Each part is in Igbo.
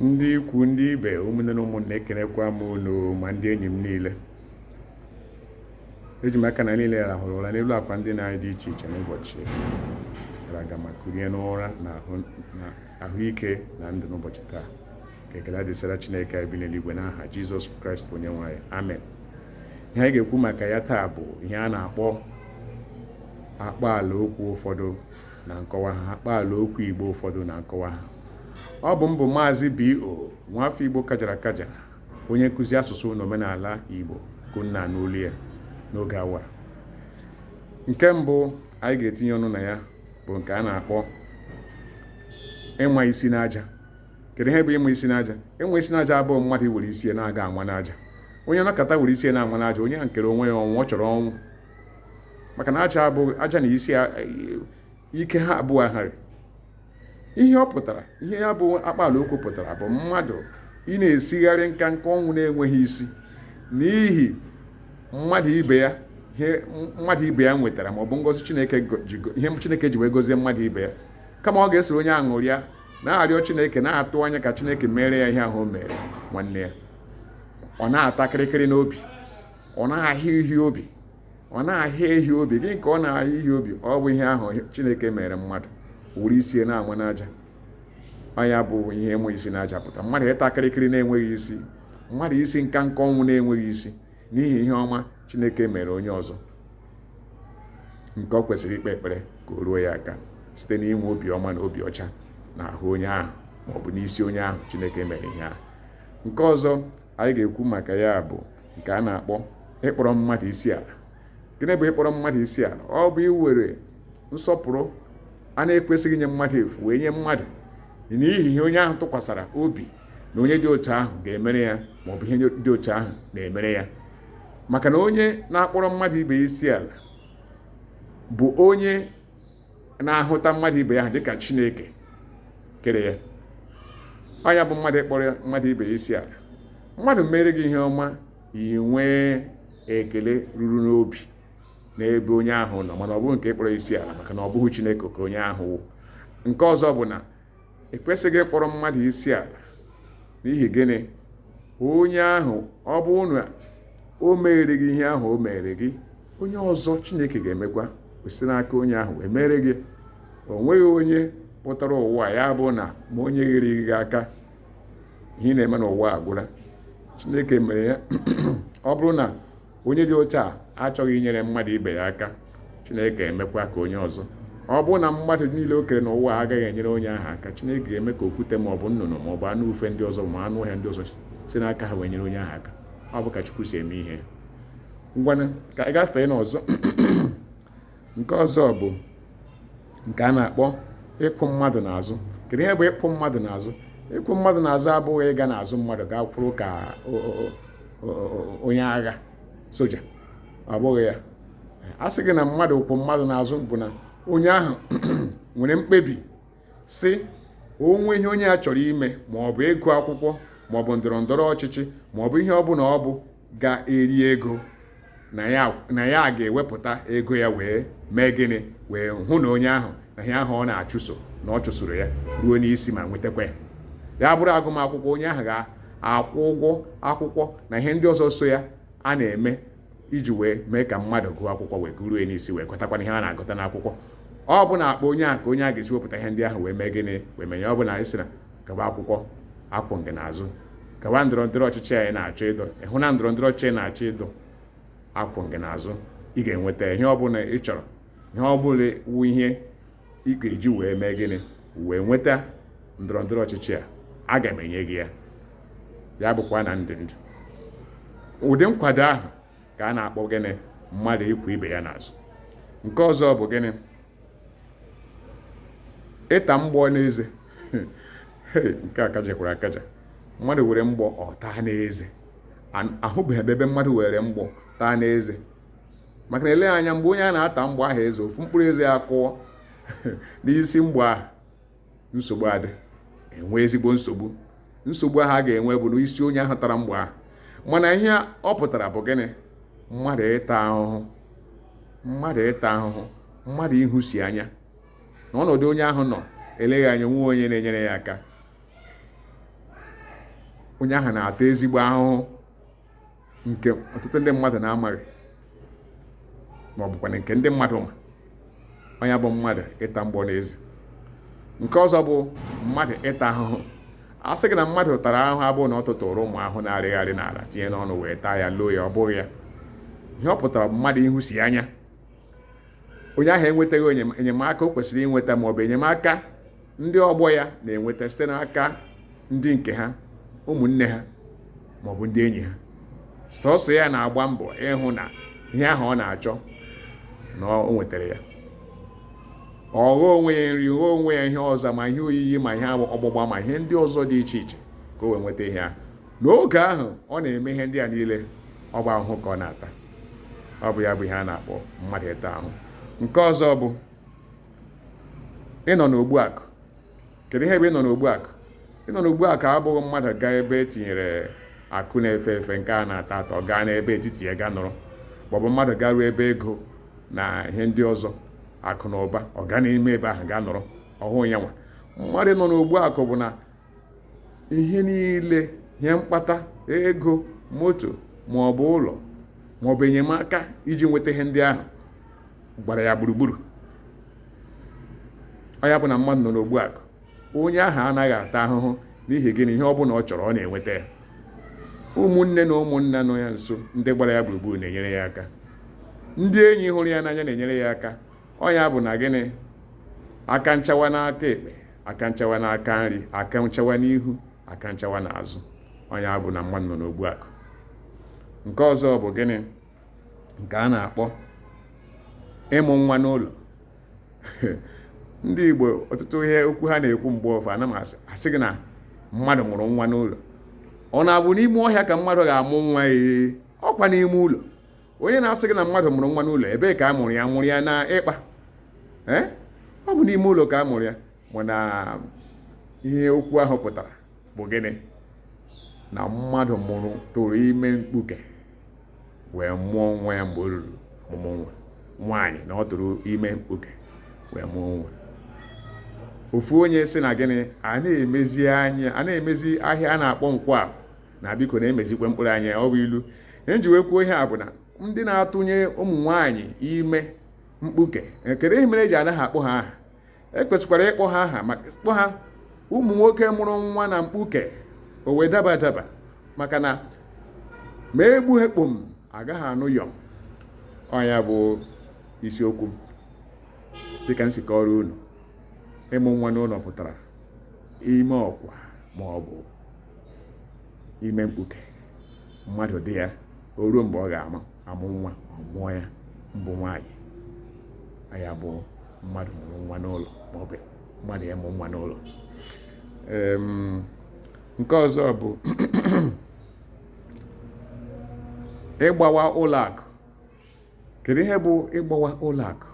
ndị ikwu ndị ibe ụmụnne na ụmụnna ekenekwa m unu ma ndị enyi m niile eji m aka na niile rahụrụ ụra n'elu akwa ndina anyị dị iche iche n'ụbọchị gara aga ma kurie n'ụra na ahụike na ndụ n'ụbọchị taa ka ekele dịsara Chineke anyị bi n'eluigwe n'aha Jizọs Kraịst onye nwe anyị amen ihe anyị ga-ekwu maka ya taa bụ ihe a na-akpọ akpaala okwu ụfọdụ na nkọwa ha akpaala okwu Igbo ụfọdụ na nkọwa ha ọ bụ m bụ maazị B.O. nwafọ Igbo kajara akaja onye nkụzi asụsụ na omenala Igbo ka unu na-anụ olu ya n'oge awa nke mbụ anyị ga-etinye ọnụ na ya bụ nke a na-akpọ ịnwa isi n'aja kedu ihe bụ ịnwa isi n'aja ịnwa isi n'aja abụghị mmadụ iwere isi na-aga anwa n'aja onye nọkata were isi na-anwa n'aja onye a nkere onwe ya ọnwụ ọ chọrọ ọnwụ maka na aja na isi ike ha abụọ ahaghị ihe ọ pụtara ihe ya bụ akpaala okwu pụtara bụ mmadụ ịna-esigharị nka nka ọnwụ na-enweghị isi n'ihi mmadụ ibe ya ihe mmadụ ibe ya nwetara ma ọ bụ ngọzi chineke ihe chineke ji wee gozie mmadụ ibe ya kama ọ ga-esoro onye ahụ ṅụrịa na-arịọ chineke na-atụ anya ka chineke mere ya ihe ahụ o mere nwanne ya ọ na-ata kịrịkịrị n'obi ọ na-ahịa ihe obi ọ na-ahịa ihe obi gịnị ka ọ na-ahịa ihe obi ọ bụ ihe ahụ chineke mere mmadụ were isi na-anwa n'aja ọ ya bụ ihe ịnwa isi n'aja pụta mmadụ ịta kịrịkịrị na-enweghị isi mmadụ isi nka nka ọnwụ na-enweghị isi n'ihi ihe ọma chineke mere onye ọzọ nke ọ kwesịrị ikpe ekpere ka o ruo ya aka site n'inwe obi ọma na obi ọcha n'ahụ onye ahụ maọbụ n'isi onye ahụ chineke mere ihe ahụ nke ọzọ anyị ga-ekwu maka ya bụ nke a na-akpọ ịkpọrọ mmadụ isi ala gịnị bụ ịkpọrọ mmadụ isi ala ọ bụ iwere nsọpụrụ a na-ekwesịghị inye mmadụ efu wee nye mmadụ n'ihi ihe onye ahụ tụkwasara obi na onye dị otu ahụ ga-emere ya ma ọ bụ ihe dị otu ahụ na-emere ya maka na onye na-akpọrọ mmadụ ibe isi ala bụ onye na-ahụta mmadụ ibe ya dịka chineke kere ya ọ ya bụ mmadụ ịkpọrọ mmadụ ibe ya isi ala mmadụ mere gị ihe ọma i nwee ekele ruru n'obi n'ebe onye ahụ nọ mana ọ bụghị nke ịkpọrọ isi ala maka na ọ bụghị chineke ka onye ahụ wụ nke ọzọ bụ na ekwesịghị ịkpọrọ mmadụ isi ala n'ihi gịnị onye ahụ ọ bụ na o mere gị ihe ahụ o mere gị onye ọzọ chineke ga-emekwa o si n'aka onye ahụ wee mere gị o nweghị onye pụtara ụwa ya bụ na ma o nyeghịrị gị aka ihe na-eme n'ụwa agwụla chineke mere ya ọ bụrụ na onye dị otu a achọghị inyere mmadụ ibe ya aka chineke ga-emekwa ka onye ọzọ ọ bụrụ na mmadụ niile o kere n'ụwa agaghị enyere onye ahụ aka chineke ga-eme ka okwute ma ọ bụ nnụnụ ma ọ bụ anụ ufe ndị ọzọ ma anụ ọhịa ndị ọzọ si n'aka ha wee nyere onye ahụ aka ọ bụ ka chukwu si eme ihe ngwanụ ka anyị gafee n'ọzọ nke ọzọ bụ nke a na-akpọ ịkwụ mmadụ n'azụ kedu ihe bụ ịkwụ mmadụ n'azụ ịkwụ mmadụ n'azụ abụghị ịga n'azụ mmadụ gaa kwụrụ ka onye agha soja ọ bụghị ya a sị gị na mmadụ kwụ mmadụ n'azụ bụ na onye ahụ nwere mkpebi sị o nwee ihe onye a chọrọ ime ma ọ bụ ịgụ akwụkwọ ma ọ bụ ndọrọ ndọrọ ọchịchị ma ọ bụ ihe ọ bụla ọ bụ ga-eri ego na ya ga-ewepụta ego ya wee mee gịnị wee hụ na onye ahụ na ihe ahụ ọ na-achụso na ọ chụsoro ya ruo n'isi ma nwetakwa ya ya bụrụ agụmakwụkwọ onye ahụ ga-akwụ ụgwọ akwụkwọ na ihe ndị ọzọ so ya a na-eme iji wee mee ka mmadụ gụọ akwụkwọ wee gụruo ya n'isi wee gụtakwanụ ihe a na-agụta n'akwụkwọ ọ bụ n'akpa onye ahụ ka onye a ga-esi wepụta ihe ndị ahụ wee mee gịnị wee menye ọ bụ na anyị sị na gaba akwụkwọ akwụ m gị n'azụ gawa ndọrọ ndọrọ ọchịchị a ị na-achọ ịdọ ịhụ na ndọrọ ndọrọ ọchịchị ị na-achọ ịdọ akwụ m gị n'azụ ị ga-enweta ihe ọ bụla ị chọrọ ihe ọ bụla wụ ihe ị ga-eji wee mee gịnị wee nweta ndọrọ ndọrọ ọchịchị a aga m enye gị ya ya bụkwa na ndụ ndụ ụdị nkwado ahụ ka a na-akpọ gịnị mmadụ ịkwụ ibe ya n'azụ nke ọzọ bụ gịnị ịta mgbọ n'eze nke a kachakwara akacha mmadụ were mgbọ ọ taa n'eze ahụbeghị ebe ebe mmadụ were mgbọ taa n'eze maka na ele anya mgbe onye a na-ata mgbọ ahụ eze ofu mkpụrụ eze ya kụọ n'isi mgbọ ahụ nsogbu adị e nwee ezigbo nsogbu nsogbu ahụ a ga-enwe bụ n'isi onye ahụ tara mgbọ ahụ mana ihe ọ pụtara bụ gịnị mmadụ ịta ahụhụ mmadụ ịta ahụhụ mmadụ ịhụsi anya n'ọnọdụ onye ahụ nọ eleghị anya o nweghị onye na-enyere ya aka onye ahụ na-ata ezigbo ahụhụ nke ọtụtụ ndị mmadụ na-amaghị ma ọ bụkwa nke ndị mmadụ ma ọ ya bụ mmadụ ịta mgbọ n'eze nke ọzọ bụ mmadụ ịta ahụhụ a sị gị na mmadụ tara ahụhụ abụghị na ọ tụtụrụ ụmụ ahụhụ na-arịgharị n'ala tinye n'ọnụ wee taa ya loo ya ọ bụghị ya ihe ọ pụtara bụ mmadụ ịhụsi anya onye ahụ enwetaghị enyemaka o kwesịrị inweta maọbụ enyemaka ndị ọgbọ ya na-enweta site n'aka ndị nke ha ụmụnne ha maọbụ ndị enyi ha sọsọ ya na-agba mbọ ịhụ na ihe ahụ ọ na-achọ na o nwetara ya ọ ghọọ onwe ya nri ghọọ onwe ya ihe ọzọ ma ihe oyiyi ma ihe ọgbụgba ma ihe ndị ọzọ dị iche iche ka o wee nweta ihe ahụ n'oge ahụ ọ na-eme ihe ndị a niile ọ bụ ahụhụ ka ọ na-ata ọ bụ ya bụ ihe a na-akpọ mmadụ ịta ahụ nke ọzọ bụ ịnọ n'ogbu akụ kedu ihe bụ ịnọ n'ogbu akụ ịnọ n'ogbu akụ abụghị mmadụ gaa ebe e tinyere akụ na-efe efe nke a na-ata ata ọ gaa n'ebe etiti ya gaa nọrọ maọbụ mmadụ garuo ebe ego na ihe ndị ọzọ akụ na ụba ọ gaa n'ime ebe ahụ gaa nọrọ ọhụụ ya nwa mmadụ nọ n'ogbu akụ bụ na ihe niile ihe mkpata ego moto ma ọ bụ ụlọ ma ọ bụ enyemaka iji nweta ihe ndị ahụ gbara ya gburugburu ọ ya bụ na mmadụ nọ n'ogbu akụ onye ahụ anaghị ata ahụhụ n'ihi gịnị ihe ọ bụla ọ chọrọ ọ na-enweta ya ụmụnne na ụmụnna nọ ya nso ndị gbara ya gburugburu na-enyere ya aka ndị enyi hụrụ ya n'anya na-enyere ya aka ọ ya bụ na gịnị aka nchawa n'aka ekpe aka nchawa n'aka nri aka nchawa n'ihu aka nchawa n'azụ ọ ya bụ na mmadụ nọ n'ogbu akụ nke ọzọ bụ gịnị nke a na-akpọ ịmụ nwa n'ụlọ ndị Igbo ọtụtụ ihe okwu ha na-ekwu mgbe ọ bụ na m asị gị na mmadụ mụrụ nwa n'ụlọ ọ na-abụ n'ime ọhịa ka mmadụ ga-amụ nwa ee ọkwa n'ime ụlọ onye na-asị gị na mmadụ mụrụ nwa n'ụlọ ebee ka a mụrụ ya mụrụ ya n'ikpa eh? ọ bụ n'ime ụlọ ka a mụrụ ya mana ihe okwu ahụ pụtara bụ gịnị na mmadụ mụrụ tụrụ ime mkpuke wee mụọ nwa ya mgbe o ruru ọmụmụ nwa nwaanyị na ọ tụrụ ime mkpuke wee mụọ nwa ofu onye sị na gịnị a na-emezi anya a na-emezi ahịa a na-akpọ Nkwọ na biko na-emezikwa mkpụrụ anya ọ bụ ilu ihe m ji wee kwuo ihe a bụ na ndị na-atụnye ụmụ nwaanyị ime mkpuke kedu ihe mere e ji anaghị akpọ ha aha e kwesịkwara ịkpọ ha aha maka kpọ ha ụmụ nwoke mụrụ nwa na mkpuke o wee daba adaba maka na ma egbughị kpom agaghị anụ yọm ọ ya bụ isiokwu dịka m si kọrọ unu ịmụ nwa n'ụlọ pụtara ime ọkwa ma ọ bụ ime mkpuke mmadụ dị ya o ruo mgbe ọ ga-ama amụ nwa ọ mụọ ya mbụ nwaanyị ya bụ mmadụ mụrụ nwa n'ụlọ maọbụ mmadụ ya mụ nwa n'ụlọ nke ọzọ bụ ịgbawa ụlọ akụ kedu ihe bụ ịgbawa ụlọ akụ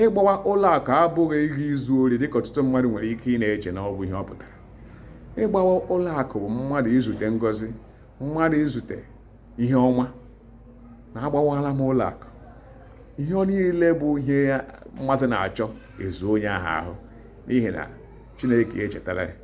ịgbawa ụlọ akụ abụghị ịga izu ori dịka ọtụtụ mmadụ nwere ike ịna-eche na ọ bụ ihe ọ pụtara ịgbawa ụlọ akụ bụ mmadụ izute ngozi mmadụ izute ihe ọma na agbawala m ụlọ akụ ihe ọ niile bụ ihe mmadụ na-achọ ezuo onye ahụ ahụ n'ihi na chineke echetala ya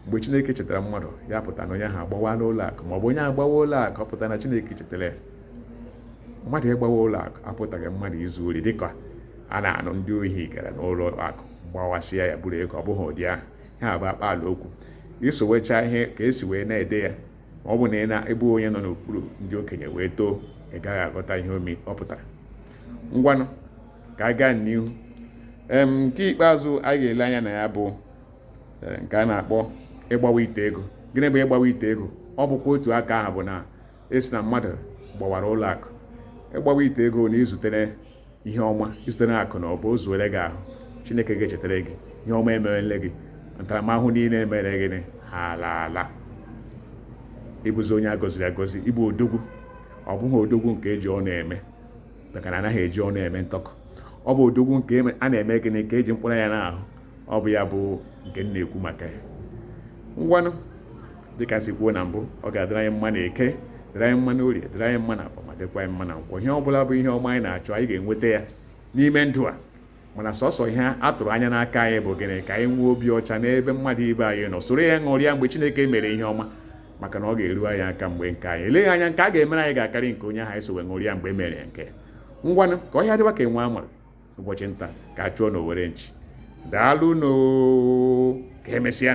mgbe chineke chetara mmadụ ya pụta na onye ahụ agbawala ụlọ akụ ma ọ bụ onye agbawa ụlọ akụ ọ pụta na chineke chetara ya mmadụ ịgbawa ụlọ akụ apụtaghị mmadụ izu ori dịka a na-anụ ndị ohi gara n'ụlọ akụ gbawasịa ya buru ego ọ bụghị ụdị ahụ ya bụ akpaala okwu isowecha ihe ka esi wee na-ede ya ma ọ bụ na ị na-abụghị onye nọ n'okpuru ndị okenye wee too ị gaghị aghọta ihe omi ọ pụtara ngwanụ ka a gaa n'ihu nke ikpeazụ a ga-ele anya na ya bụ eh, nke a na-akpọ ịgbawa ite ego gịnị bụ ịgbawa ite ego ọ bụkwa otu aka ahụ bụ na asị na mmadụ gbawara ụlọ akụ ịgbawa ite ego na izutere ihe ọma izutere akụ na ụba o zuru gị ahụ chineke echetala gị ihe ọma emerele gị ntaramahụhụ niile emere gị ha alaala ịbụzi onye agọziri agọzi ịbụ odogwu ọ bụghị odogwu nke eji ọnụ eme maka na anaghị eji ọnụ eme ntọkọ ọ bụ odogwu nke a na-eme gịnị ka eji mkpụrụ ya n'ahụ ọ bụ ya bụ nke m na-ekwu maka ya ngwanụ dịka esi kwuo na mbụ ọ ga-adịrị anyị mma na eke dịrị anyị mma na orie dịrị anyị mma na afọ ma dịkwa anyị mma na nkwọ ihe ọ bụla bụ ihe ọma anyị na-achọ anyị ga-enweta ya n'ime ndụ a mana sọsọ ihe a tụrụ anya n'aka anyị bụ gịnị ka anyị nwee obi ọcha n'ebe mmadụ ibe anyị nọ soro ya ṅụrịa mgbe Chineke mere ihe ọma maka na ọ ga-eru anyị aka mgbe nke anyị eleghị anya nke a ga-emere anyị ga-akarị nke onye ahụ anyị so wee ṅụrịa mgbe e mere ya nke ngwanụ ka ọhịa dịwa ka enwe amara ụbọchị nta ka a chụọ n'owere nchi daalụnụ ka emesịa